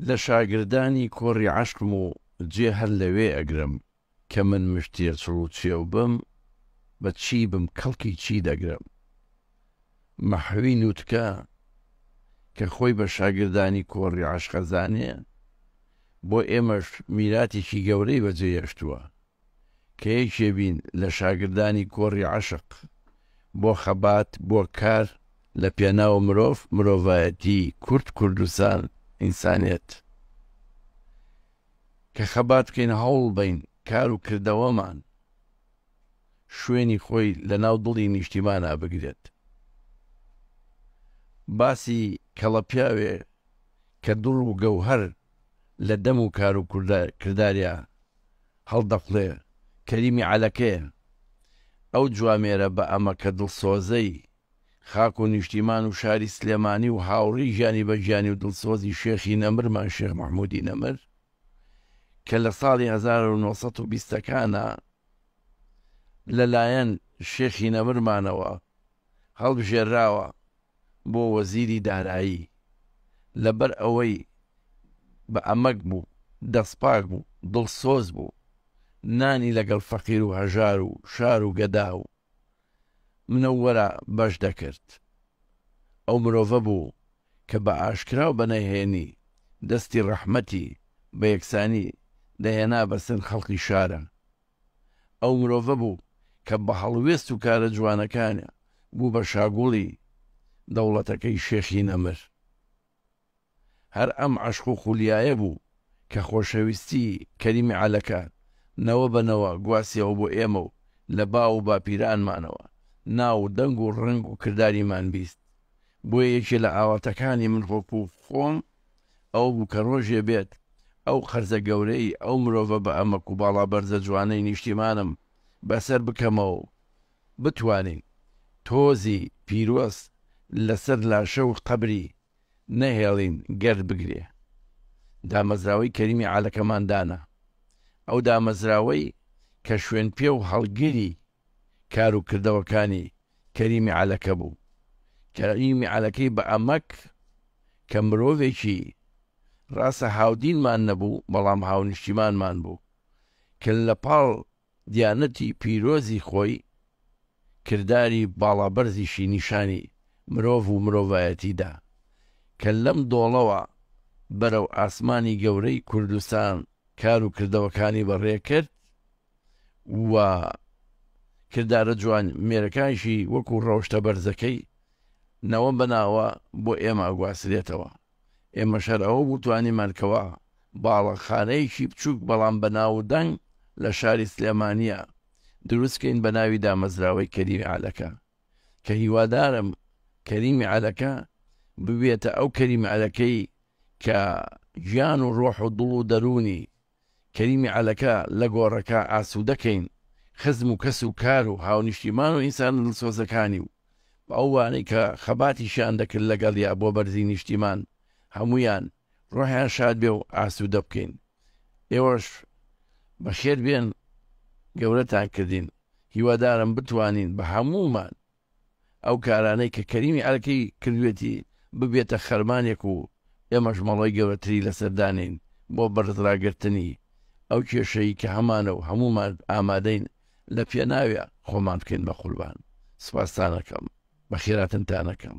لە شاگردانی کۆڕی عەشقم و جێ هەر لەوێ ئەگرم کە من مشت تێچڵ و چێو بم بە چی بم کەڵکی چی دەگرم مەحوی نوتکە کە خۆی بە شاگردانی کۆڕی عەشق ئەزانێ بۆ ئێمەش میراتێکی گەورەی بە جێ یەشتوە. کە یەکێ بین لە شاگردانی کۆڕی عەشق بۆ خەبات بۆ کار لە پێناو مرۆڤ مرۆڤایەتی کورد کوردستان ئینسانیەت کە خەبات بکەین هەوڵ بەین کار و کردەوەمان شوێنی خۆی لە ناو دڵی نیشتیمانا بگرێت باسی کەڵە پیاوێ کە دڵ و گەوهەر لە دەم و کار و کرداریا هەڵدەقوڵێ کەریمی عەلەکەیە ئەو جوامێرە بە ئەمەکە دڵسۆزەی خاک و نیشتیمان و شاری سلێمانی و هاوڕێی ژانی بە گیانی و دڵسۆزی شێخی نەمرمان شێخ مەحمودی نەمر کە لە ساڵی هەزار و نۆ سەد و بیست ەکانا لە لایەن شێخی نەمرمانەوە هەڵبژێرراوە بۆ وەزیری دارایی لەبەر ئەوەی بە ئەمەک بوو دەستپاک بوو دڵسۆز بوو نانی لەگەڵ فەقیر و هەژار و شار و گەدا و منەوەرە بەش دەکرد ئەو مرۆڤە بوو کە بە ئاشکرا و بە نهێنی دەستی ڕەحمەتی بە یەکسانی دەهێنا بەسەر خەڵقی شارە ئەو مرۆڤە بوو کە بە هەڵوێست و کارە جوانەکانێ بوو بە شاگوڵی دەوڵەتەکەی شێخی نەمر. هەر ئەم عەشق و خولیایە بوو کە خۆشەویستی کەریمی عەلەکە نەوە بە نەوە گواستیەوە بۆ ئێمە و لە باو و باپیرانمانەوە ناو و دەنگ و ڕەنگ و کرداریمان بیست. بۆیە یەکێ لە ئاواتەکانی من وەکوو خۆم، ئەوە بوو کە ڕۆژێ بێت ئەو قەرزە گەورەی ئەو مرۆڤە بە ئەمەک و باڵا بەرزە جوانەی نیشتیمانم بەسەر بکەمەوە و بتوانین تۆزی پیرۆز لە سەر لاشە و قەبری نەهێڵین گەرد بگرێ. دامەزراوەی کەریمی عەلەکەمان دانا. ئەو دامەزراوەی کە شوێنپێ و هەڵگری کار و کردەوەکانی کەریمی عەلەکە بوو. کەریمی عەلەکەی بە ئەمەک کە مرۆڤێکی، ڕاستە هاودینمان نەبوو بەڵام هاونیشتیمانمان بوو، کە لە پاڵ دیانەتی پیرۆزی خۆی کرداری باڵا بەرزیشی نیشانی مرۆڤ و مرۆڤایەتی دا، کە لەم دۆڵەوە بەرەو ئاسمانی گەورەی کوردستان کار و کردەوەکانی بە ڕێ کرد و کردارە جوان مێرەکانشی وەکو ڕەوشتە بەرزەکەی ناوە بەناوە بۆ ئێمە ئەگواسرێتەوە ئێمەش هەر ئەوە بوو توانیمان کەوا باڵەخانەیەکی بچوک بەڵام بە ناو و دەنگ لە شاری سلێمانیە دروست کەین بە ناوی دامەزراوەی کەریمی عەلەکە کە هیوادارم کەریمی عەلەکە ببێتە ئەو کەریمی عەلەکەی کە گیان و ڕۆح و دڵ و دەرونی کەریمی عەلەکە لە گۆڕەکە ئاسوودە کەین خزم و کەس و کار و هاونیشتیمان و ئینسانە دڵسۆزەکانی و ئەو وانەی کە خەباتیشیان دەکرد لە گەڵیا بۆ بەرزی نیشتیمان هەموویان ڕۆحیان شاد بێ و ئاسوودە بکەین ئێوەش بەخێر بێن گەورەتان کردین هیوادارم بتوانین بە هەموومان ئەو کارانەی کە کەریمی ئەرکەی کردوێتی ببێتە خەرمانێک و ئێمەش مەڵۆی گەورەتری لەسەر دانێین بۆ بەرز راگرتنی ئەو کێشەی کە هەمانە و هەموومان ئامادەین لە پێناوێ خۆمان بکەین بە قوربان سوپاستانەکەم بەخێراتنتانەکەم.